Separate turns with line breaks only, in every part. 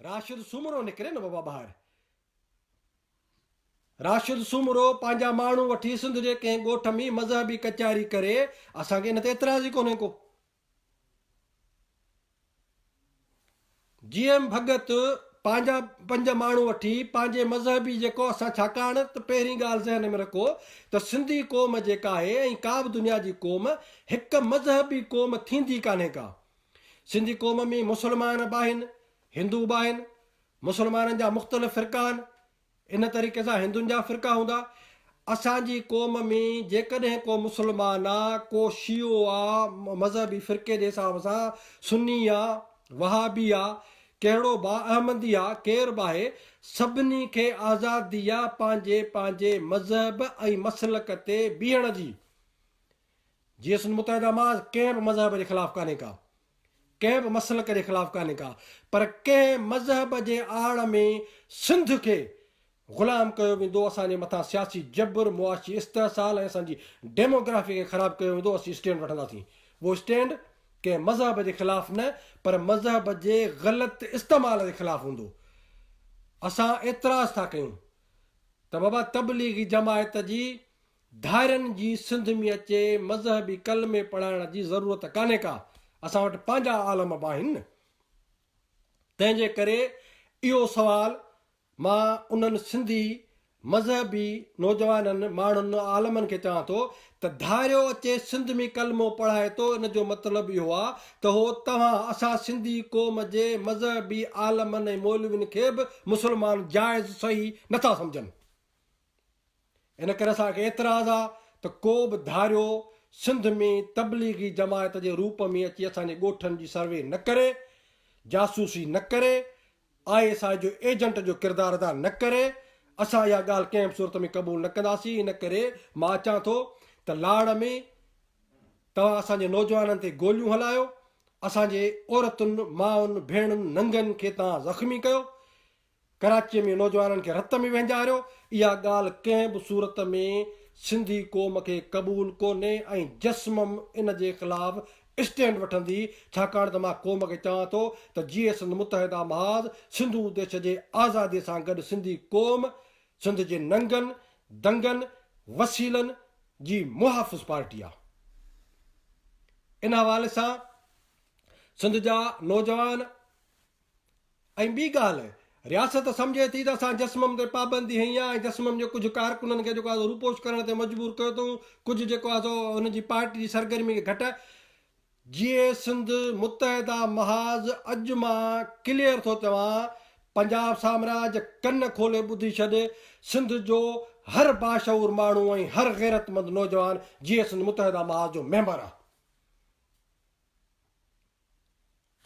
راشد سومرو نڪري نه بابا ٻاهر. راشد سومرو پنهنجا ماڻهو وٺي سنڌ جي ڪنهن ڳوٺ ۾ مذهبي ڪچهري ڪري اسان کي ان تي اعتراض ئي ڪونهي ڪو جي ايم ڀڳت پنهنجا پنج ماڻهو وٺي پنهنجي مذهبي جيڪو اسان ڇاڪاڻ ته پهرين ڳالهه ذهن ۾ رکو ته سنڌي قوم جيڪا آهي ۽ ڪا به دنيا جي قوم هڪ مذهبي قوم ٿيندي ڪانهي ڪا سنڌي قوم ۾ مسلمان به آهن، هندو به آهن. مسلمانن جا مختلف فرقا آهن. ان طريقي سان هندن جا فرقا هوندا. اسان جي قوم ۾ جيڪڏهن ڪو مسلمان آ، ڪو شيعو آ، مذهبي فرقي جي حساب سان سني آ، وهابي آ، ڪهڙو به آ، احمدي آ، ڪير به آهي، سڀني کي آزادي آ پنهنجي پنهنجي مذهب ۽ مسلڪ تي بيهڻ جي. جيئن سنڌ متحده محاذ ڪنهن به مذهب جي خلاف ڪانهي ڪا، ڪنهن به مسلڪ جي خلاف ڪانهي ڪا پر ڪنهن مذهب جي آڙ ۾ سنڌ کي غلام ڪيو ويندو، اسان جي مٿان سياسي جبر، معاشي استحصال ۽ اسان جي ڊيموگرافي کي خراب ڪيو ويندو، اسين اسٽينڊ وٺنداسين. اهو اسٽينڊ ڪنهن مذهب جي خلاف نه پر مذهب جي غلط استعمال جي خلاف هوندو. اسان اعتراض ٿا ڪيون ته بابا تبليغي جماعت جي ڌائرن جي سنڌ ۾ اچي مذهبي ڪلمي پڙهائڻ جي ضرورت ڪانهي ڪا، اسان وٽ پنهنجا عالم به آهن نه. تنهن جي ڪري اهو سوال مان انهن سنڌي مذهبي نوجوانن ماڻهن عالمن کي چوان ٿو ته ڌائريو اچي سنڌ ۾ ڪلمو پڙهائي ٿو ان جو مطلب اهو آ ته هو توهان اسان سنڌي قوم جي مذهبي عالمن ۽ مولوين کي به مسلمان جائز صحيح نٿا سمجهن. ان ڪري اسان کي اعتراض آ ته ڪو به ڌاريو سنڌ ۾ تبليغي جماعت جي روپ ۾ اچي اسان جي ڳوٺن جي سروي نه ڪري، جاسوسي نه ڪري، آء ايس آء جو ايجنٽ جو ڪردار ادا نه ڪري، اسان اها ڳالهه ڪنهن به صورت ۾ قبول نه ڪنداسين، ان ڪري مان اچان ٿو ته لاڙ ۾ توهان اسان جي نوجوانن تي گوليون هلايو، اسان جي عورتن، مائن، ڀيڻن، ننگن کي توهان زخمي ڪيو، ڪراچيء ۾ نوجوانن کي رت ۾ وهنجاريو، اها ڳالهه ڪنهن به صورت ۾ سنڌي قوم کي قبول ڪونهي ۽ جسمم ان جي خلاف اسٽينڊ وٺندي، ڇاڪاڻ ته مان قوم کي چوان ٿو ته جيئي سنڌ متحده محاذ سنڌو ديش جي آزاديء سان گڏ سنڌي قوم سنڌ جي ننگن، دنگن، وسيلن جي محافظ پارٽي آ. ان حوالي سان سنڌ جا نوجوان. ۽ ٻي ڳالهه رياست سمجهي ٿي ته اسان جسمم تي پابندي هنئي آهي ۽ جسمم جي ڪجهه ڪارڪنن کي جيڪو آهي سو روپوش ڪرڻ تي مجبور ڪيو اٿئون ڪجهه جيڪو آهي سو هن جي پارٽي جي سرگرمي کي گهٽ جيئي سنڌ متحده محاذ اڄ مان ڪليئر ٿو چوان پنجاب سامراج ڪن کولي ٻڌي ڇڏ سنڌ جو هر باشعور ماڻهو ۽ هر غيرتمند نوجوان جيئي سنڌ متحده محاذ جو ميمبر آهي.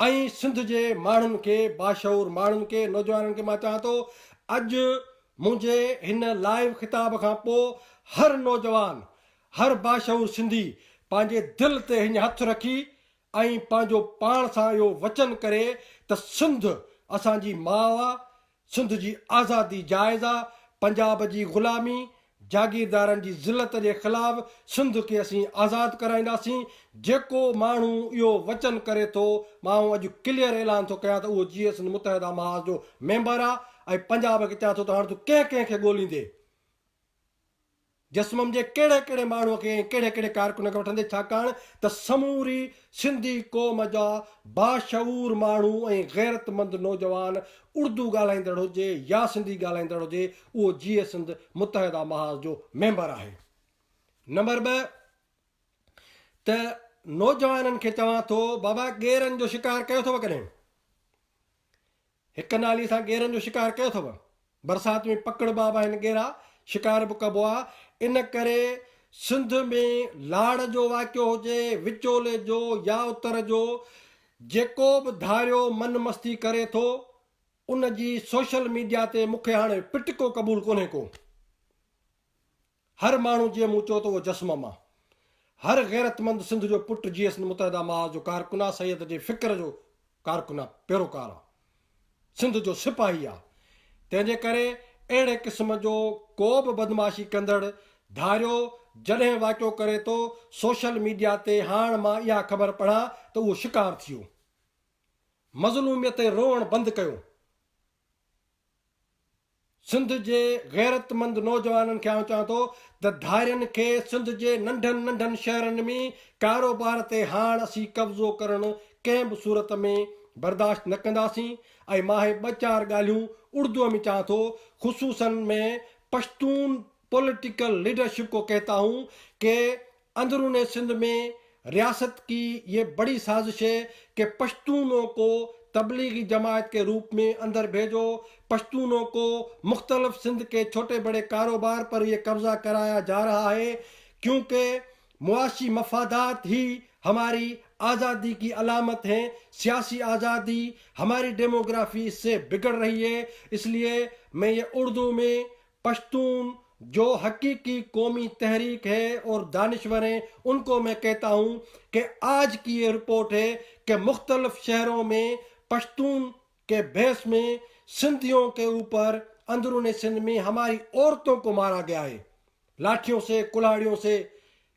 ۽ سنڌ جي ماڻهن کي باشعور ماڻهن کي نوجوانن کي مان چاهان ٿو اڄ منهنجي هن لائيو خطاب کان پو هر نوجوان هر باشعور سنڌي پنهنجي دل تي هڃ هٿ رکي ۽ پنهنجو پاڻ سان اهو وچن ڪري ته سنڌ اسان جي ماء آ سنڌ جي آزادي جائز آ، پنجاب جي غلامي، جاگيردارن جي ذلت جي خلاف سنڌ کي اسين آزاد ڪرائينداسين، جيڪو ماڻهو اهو وچن ڪري ٿو، مان اڄ ڪليئر اعلان ٿو ڪيان ته اهو جيئي سنڌ متحده محاذ جو ميمبر آ ۽ پنجاب کي چوان ٿو ته هاڻ تون ڪنهن ڪنهن کي ڳوليندين؟ جسمم جي ڪهڙي ڪهڙي ماڻهوء کي ۽ ڪهڙي ڪهڙي ڪارڪن کي وٺندي ڇاڪاڻ ته سموري سنڌي قوم جا باشعور ماڻهو ۽ غيرتمند نوجوان اڙدو ڳالهائيندڙ هجي يا سنڌي ڳالهائيندڙ هجي اهو جيئي سنڌ متحده محاذ جو ميمبر آهي نمبر ٻه ته نوجوانن کي چوان ٿو بابا ڳيرن جو شڪار ڪيو اٿو ڪڏهن؟ هڪ نالي سان ڳيرن جو شڪار ڪيو اٿو. برسات ۾ پڪڙبا به آهن ڳيرا، شڪار به ڪبو آ. ان ڪري سنڌ ۾ لاڙ جو واقعو هجي، وچولي جو يا اتر جو، جيڪو به ڌاريو من مستي ڪري ٿو، ان جي سوشل ميڊيا تي مون کي هاڻي پٽڪو قبول ڪونهي ڪو. هر ماڻهو جيئن مون چيو ته اهو جسم مان هر غيرتمند سنڌ جو پٽ جي سنڌ متحده محاذ جو ڪارڪن آ سيد جي فڪر جو ڪارڪن آ پيروڪار آ سنڌ جو سپاهي آ تنهن جي ڪري اهڙي قسم جو ڪو به بدمعاشي ڪندڙ ڌاريو جڏهن واقعو ڪري ٿو سوشل ميڊيا تي هاڻ مان اها خبر پڙهان ته اهو شڪار ٿيو مظلوميت تي روئڻ بند ڪيو سنڌ جي غيرتمند نوجوانن کي آئون چوان ٿو ته ڌارين کي سنڌ جي ننڍن ننڍن شهرن ۾ ڪاروبار تي هاڻ اسين قبضو ڪرڻ ڪنهن به صورت ۾ برداشت نه ڪنداسين ۽ مان هي ٻه چار ڳالهيون اڙدوء ۾ چوان ٿو خصوصن ۾ پشتون پوليٽيڪل ليڊرشپ ڪو ڪهتا هون ڪي اندرون سنڌ ۾ رياست ڪي يي بڙي سازش هي ڪي پشتونو ڪو تبليغي جماعت ڪي روپ ۾ اندر ڀيجو پشتونو ڪو مختلف سنڌ ڪي ڇوٽي بڙي ڪاروبار پر يي قبضا ڪرايا جا رها هي ڪيون ڪي معاشي مفادات هي هماري آزادي ڪي علامت هين سياسي آزادي هماري ڊيموگرافي اس سي بگڙ رهي هي اس ليي مين يي اردو ۾ پشتون جو حقيقي قومي تحريڪ هي اور دانشورين ان کو مين ڪهتا هون ڪه آج ڪي يي رپورٽ هي ڪه مختلف شهرون مين پشتون ڪه بهس مين سنڌيون ڪه اوپر اندرون سنڌ مين هماري عورتون کو مارا گيا هي لاٺيون سي ڪلهاڙيون سي